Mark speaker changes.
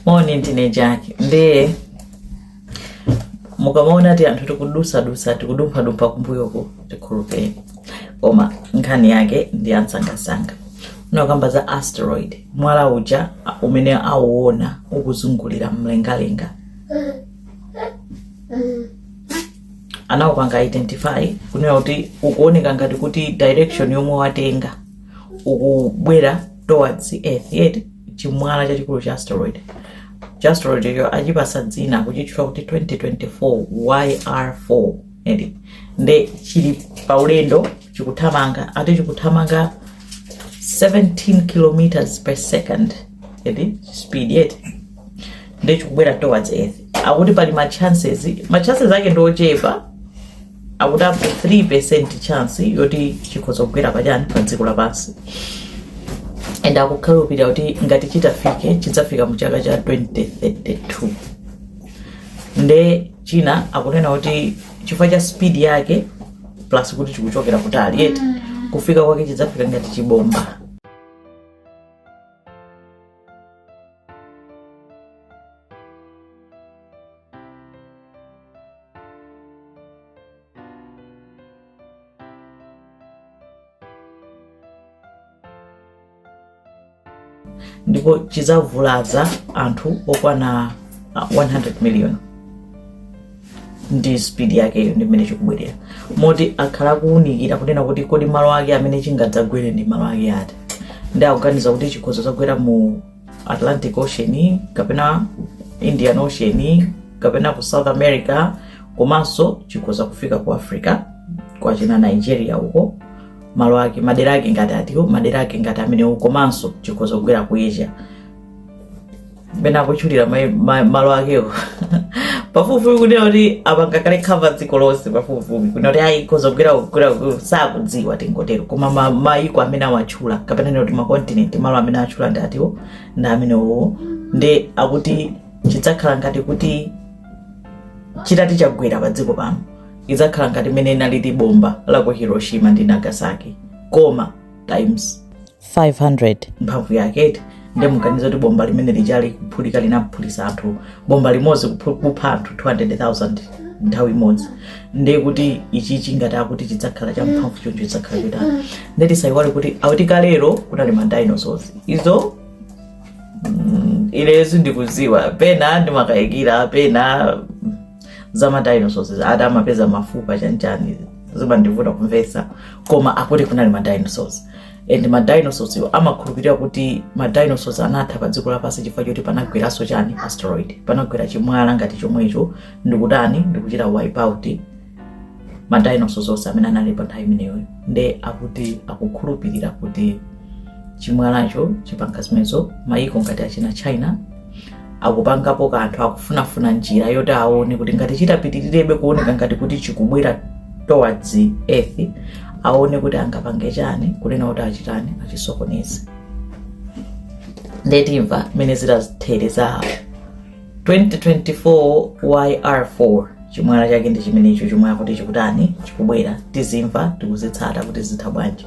Speaker 1: moni ndine jaki ndiye mukamaona ti anthu tikudusadusa tikudumphadumpha kumbuyoku tikhulupireni koma nkhani yake ndi yamsangamsanga unakamba za asteroid mwala uja umene auona ukuzungulira mlengalenga anaupanga identify kunena kuti ukuoneka ngati kuti direction yomwe watenga ukubwera towards earth eti chimwala chachikulu cha asteroid chi asteroid icho achipatsa dzina kuchitchula kuti 2024 yr4 eti nde chili paulendo chikuthamanga ati chikuthamanga 17 kilometers per second eti speed eti nde chikubwera towards earth akuti pali ma chances ma chances ake ndi ochepa akuti up to 3% chance yoti chikhoza kugwera pachani pa dziko lapansi and akukhulupirira kuti ngati chitafike chidzafika mu chaka cha 2032 nde china akunena kuti chifukwa cha speed yake plus kuti chikuchokera kutali eti kufika kwake chidzafika ngati chibomba ndipo chidzavulaza anthu okwana ah, 100 million ndi speed yakeyo ndi mmene chikubwerera moti akhala akuwunikira kunena kuti kodi malo ake amene chingadzagwere ndi malo ake ati nde akuganiza kuti chikhoza dzagwera mu atlantic ocean kapena indian ocean kapena ku south america komanso chikhoza kufika ku africa kwachina nigeria uko malo ake madera ake ngati atiwa madera ake ngati amenewo komanso chikhoza kugwera ku asia pena akutchulira mai- ma- malo akewo pafupifupi kunena kuti apanga kale cover dziko lonse pafupifupi kunena kuti ayi ikhoza kugwera kugwera sakudziwa tingotero koma ma- mayiko amene awatchula atchula kapena nena kuti makontinenti malo amene atchula ndi atiwo ndi amenewowo nde akuti chidzakhala ngati kuti chitati chagwera pa dziko pano idzakhala ngati mmene inalili bomba la ku hiroshima ndi nagasaki koma times 500 mphamvu yake eti nde muganiza kuti bomba limene lijali kuphulika linaphulitsa anthu bomba limodzi kuphu- kupha anthu 200000 nthawi imodzi nde kuti ichichi ngati akuti chidzakhala cha mphamvu choncho chidzakhala chotani nde tisayiwale kuti akuti kalero kunali ma dinosaurs izo ilezo ndikudziwa pena ndimakayikira pena za ma dinosaurs ati amapeza mafupa chanchani zimandivuta kumvesa koma akuti kunali ma dinosaurs and ma dinosaurs iwo amakhulupirira kuti ma dinosaurs anatha pa dziko lapansi chifukwa choti panagweranso chani asteroid panagwera chimwala ngati chomwecho ndikutani ndikuchita wipe out ma dinosaurs onse amene anali pa nthawi imeneyo nde akuti akukhulupirira kuti chimwalacho chipanga zimenezo mayiko ngati achina china akupangapo kanthu akufunafuna njira yoti aone kuti ngati chitapitirirebe kuoneka ngati kuti chikubwera towards earth aone kuti angapange chani kunena kuti achitani achisokoneze nde timva mmene zitathere za 2024 yr4 chimwala chake ndi chimenecho chomwe akuti chikutani chikubwera tizimva tikuzitsata kuti zitha bwanji